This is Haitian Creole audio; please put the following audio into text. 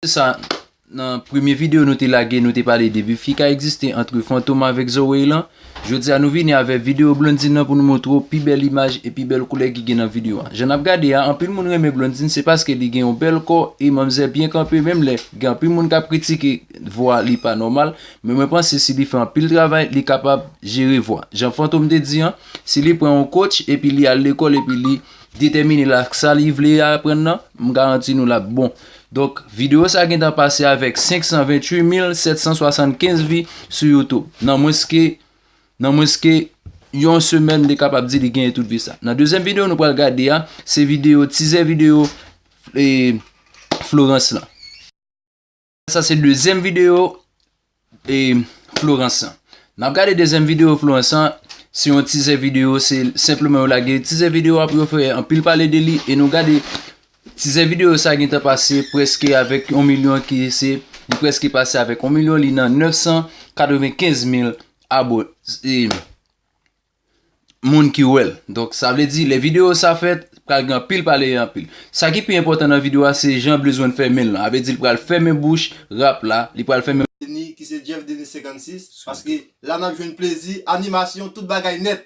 Se sa, nan premye video nou te lage nou te pale de bif ki ka egziste antre Fantom avèk Zoey lan. Jodi a nou vini avèk video Blondine nan pou nou montre w pi bèl imaj e pi bèl koulè ki gen nan video a. Jan n ap gade a, anpil moun renmen Blondine se paske li gen yon bèl kò e manmzè byen kanpe menm lè gen anpil moun k ap kritike vwa li pa nòmal. Men mwen panse si li fè anpil travay, li kapab jere vwa. Jan Fantom te di an, si li pran yon coach epi li al lekòl epi li detèmine l ak sa li vle aprann nan, m garanti nou l ap bon. Donk, videyo sa gentan pase avèk 528775 vi sou YouTube. Nan mwens ke, nan mwens ke yon semèn m te kapab di li genyen tout vi sa. Nan dezyèm videyo nou pral gade a, se videyo, tizè videyo e Florence lan. Sa se dezyèm video e Florence an. Nap gade dezyèm video Florence an, se yon tizè video, se senpleman yo lage tizè video apre yo fè anpil pale de li e nou gade tizè video sa gentan pase preske avèk 1 milyon ki se li preske pase avèk 1 milyon li nan 995 mil abone. moun ki wèl donk sa vle di lè video sa fèt pral gen anpil pale e anpil sa ki pi enpòtan nan video a se jan blizwen fèmenl lan avle di li pral fèmen bouch rap la li pral fèmen Denis ki se Jeff Denis 56 paske la nap jwenn plezi animasyon tout bagay nèt